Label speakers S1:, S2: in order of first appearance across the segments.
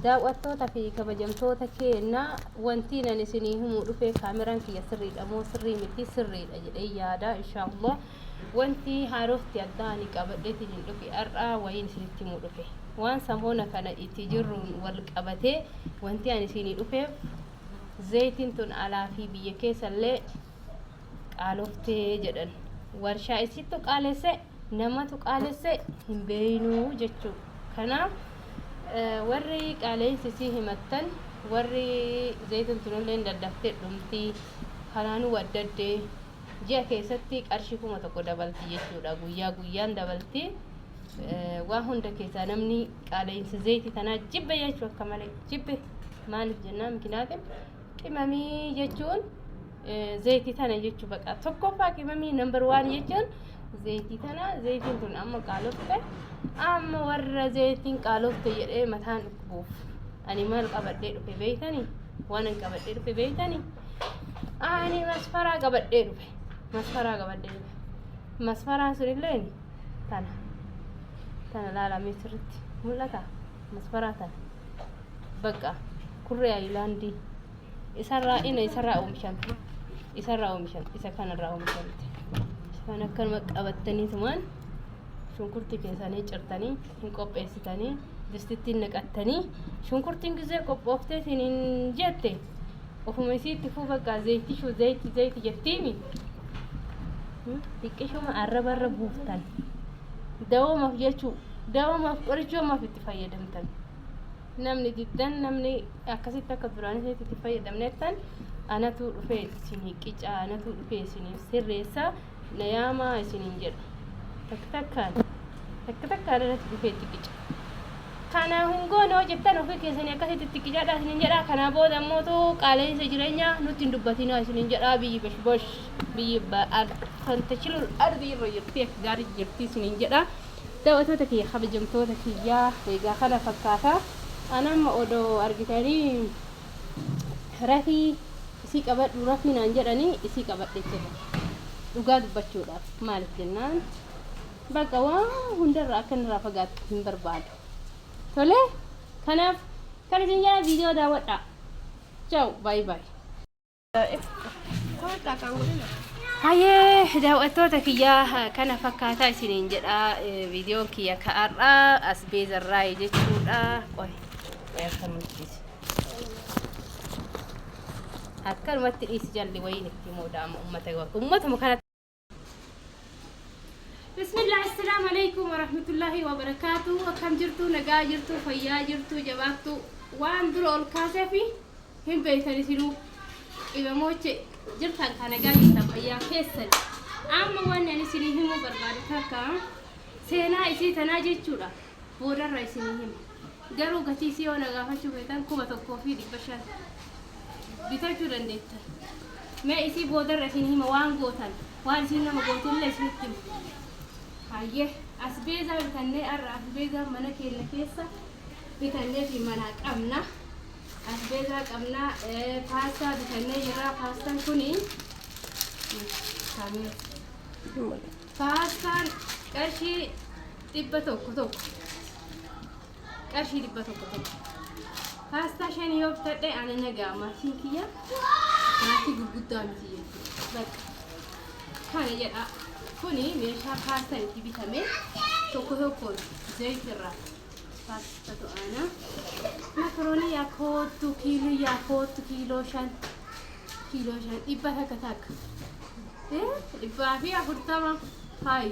S1: Daaw'attoota fi kabajamtoota keenya wantiin ani isinii himuu dhufee kaameraan kiyya sirriidha moo sirrii miti sirriidha jedhee yaada inshaallah wanti haarofti addaa ani qabadheetiin hin dhufe har'aa wayiin isinitti himuu dhufe waan samoona kana itti jirruun wal qabatee wanti ani isinii dhufeef zaytiin tun alaa fi biyya keessallee qaaloftee jedhan warshaa isittu qaalesse namatu qaalesse hin beeynuu jechuu kanaaf warri qaaleysi isii himattan warri zaytan tunillee daddaftee dhumtii kanaanuu waddaddee ji'a keessatti qarshii kuma tokko dabalti jechuudha guyyaa guyyaan dabalti waa hunda keessaa namni qaaleysi zayti tanaa jibbe jechuu akka malee jibbe maaliif jennaan mikinaatiin qimamii jechuun zayitii tana jechuu baqa tokkoffaa qimamii nambar waan jechuun zayitii tana zayitiin tun amma qaalofte amma warra zayitiin qaalofte jedhee mataan dhukkubuuf ani maal qabadhee dhufe beeytanii waan an qabadhee dhufe beeytanii ani masfaraa qabadhee dhufe masfaraa qabadhee dhufe masfaraan sun illee tana tana laalamee sirritti mul'ata masfaraa tana bakka kurree ayilaandii isarraa ina isarraa oomishamte isarraa oomishamte isa kanarraa oomishamte isa kana akkanuma qabattanii tumaan shunkurtii keessanii cirtanii hin qopheessitanii distittiin naqattanii shunkurtiin gizee qophooftee isin hin jette ofuma isiitti fuu bakka zayitishuu zayiti zayiti jettiimi xiqqishuma arraba irra buuftan dawoomaaf jechuu dawoomaaf qorichoomaaf itti fayyadamtan. namni diddan namni akkasitti akka duraan isinitti itti fayyadamnettan anatu dhufee isinii qicaa anatu dhufee isiniif sirreessa na yaamaa isiniin jedha takka takkaan takka takkaan anatu dhufee itti qica kana hin goone hoo jettan ofii keessanii akkasitti itti qicaadha isiniin jedha kanaa booda immootu qaala'insa jireenyaa nutti hin dubbatinaa isiniin jedha biyyi bashbash biyyi ba'al kan tachilul ardi irra jirti akka gaarii jirti isiniin jedha Dawatoota kiyya kabajamtoota kiyya egaa kana fakkaata an amma odo argitani rafii isii qabadhu rafii naan jedhani isii qabadhe jira dhugaa dubbachuudhaaf maalif jennaan bakka waan hundarra akka inni irraa fagaattu hin barbaadu tole kanaaf kan isin jedha viidiyoo daawwadhaa chaaw baay'ee baay'ee Hayyee daawwattoota kiyyaa kana fakkaataa isiniin jedha viidiyoon kiyya ka'arraa as beezarraa jechuudha. Qoy akkanumatti dhiisi jalli wayiin itti moodaama uummatuma kanatti. Bismillah assalamu alaikum warahmatullahi wabarakatuh akkam jirtu nagaa jirtu fayyaa jirtu jabaattu waan dura ol kaasee fi hin beeytan isinuu qibamooche jirtan ka nagaa jirtan fayyaa keessan amma waan ani isinii himuu barbaadu takka seenaa isii tanaa jechuudha Boodarra isinii hima. Garuu gatii isii yoo na gaafachuu feetan 1500 bitachuu dandeettan. Mee isii boodarra isinii hima waan gootan. Waan isiin nama gootullee isinitti hima. Hayyee asbeezaa bitannee har'a asbeezaa mana keenya keessa bitannee fi manaa qabna. Asbeezaa qabna paastaa bitannee jirra paastaan kuni kaamiyoo. Paastaan qarshii dhibba tokko tokko qarshii dhibba tokko tokko paastaa shan yoo bitadhe ana nagaa maatiin kiyya maatii gurguddaa miti jechuudha bakka kana jedha kuni meeshaa paastaan itti bitame tokko tokko zayit irraa paasta to'aana makaroonii yaa koottu kiiloo yaa koottu kiiloo shan kiiloo shan dhibba takka takka Eh, dhibbaa fi afurtama faayi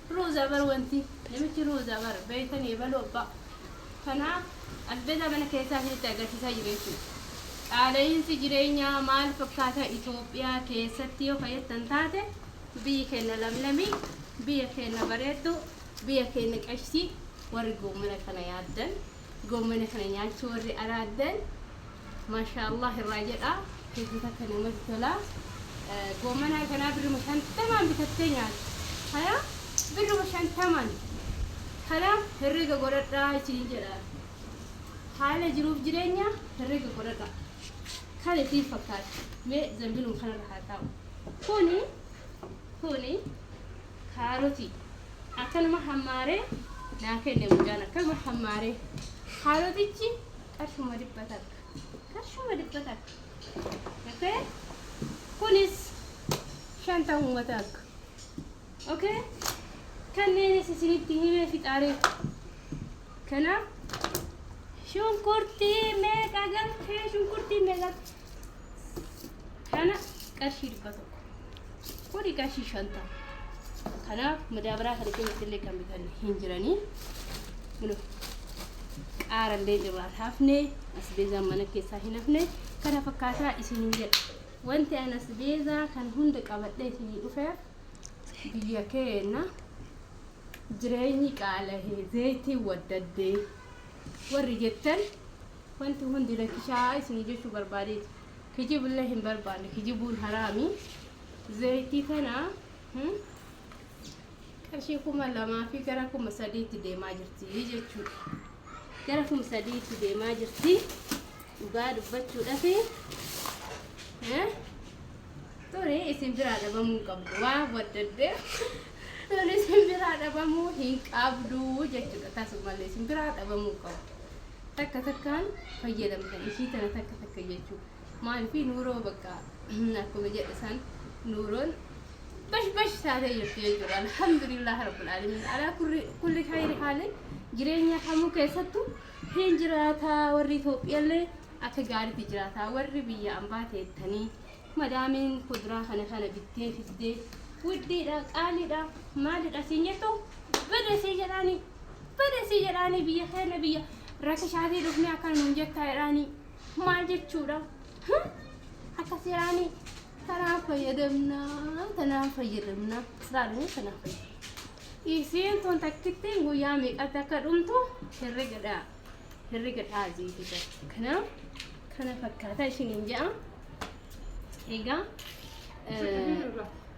S1: Rozaa bar wanti namichi rozaa bar beeytani ebalu abba kana albeda mana keessa isinitti agarsiisaa jiru jechuudha. Qaala'iinsi jireenyaa maal fakkaata Ethiopia keessatti yoo ka jettan taate biyyi keenna lamlamii biyya keenna bareedduu biyya keenna qashtii warri goomana kana yaaddan. Goommana kana nyaachuu warri araaddan maashaa allaah irraa jedhaa hedduu takka namatti tola. Goommana kanaa birruma shantamaan bitattee nyaata. Kana birruma shantamaan kana herrega godhadhaa isiniin jedha. Haala jiruuf jireenya herrega godhadhaa. Kan isin fakkaata. Mee zambiluma kanarra haa taa'u. Kuni kuni Kaarotii akkanuma hammaaree naa kenne mucaan akkanuma hammaaree. Kaarotichi qarshuma dhibba takka. Qarshuma dhibba takka. Okay? Kunis shantamuma takka. Okay? Kanneenis isinitti himee fixaaree. Kanaaf shunkurtii meeqa galtee shunkurtii meeqa galtee. kana qarshii dhibba tokko kuni qarshii shantama kanaaf madaabaraa kana keessatti illee kan bitan hin jiranii kuno qaara illee irraan hafne asbeezaan mana keessaa hin hafne kana fakkaataa isin hin jedha wanti an asbeezaa kan hunda qabadhee isinii dhufe biyya keenya jireenyi qaalahee zeeytii waddaddee warri jettan Wanti hundi lakkishaa'aa isinii jechuu barbaadeeti. Kijibillee hin barbaanne. Kijibuun haraami. Zayitii tana hmm, qarshii kuma lamaa fi gara kuma sadiitti deemaa jirti jechuudha. Gara kuma sadiitti deemaa jirti. Dhugaa dubbachuudhaaf eh, ture isin biraa dhabamuu hin qabdu. Waa waddaddeef ture isin biraa dhabamuu hin qabdu jechuudha. Tasumallee isin biraa dhabamuu hin qabdu. takka takkaan fayyadamtan ishii tana takka takka jechuu maalifi nuuroo bakka akkuma jedhe san nuuroon bash bash taatee jirti jechuudha alhamdulillah rabbil alamin alaa kulli kulli khayri haalin jireenya kamuu keessattu hin jiraataa warri Itoophiyaallee akka gaariitti jiraataa warri biyya ambaa teettanii Madaamiin kuduraa kana kana bittee fiddee wuddiidha qaaliidha maalidha siin jettu bada sii jedhaani bada sii jedhaani biyya keenya biyya rakishaatii dhufnee akka nuun jettaa jedhaani maal jechuudha Hum? akkas jedhaani tanaan fayyadamnaa tanaan fayyadamnaa laalanii tanaan fayyadamnaa isiin tun takkittiin guyyaa meeqatti akka dhumtu herregadhaa herrega dha'a jeete jirti. Kanaaf kana fakkaataa isiniin ja'a. Egaa eh,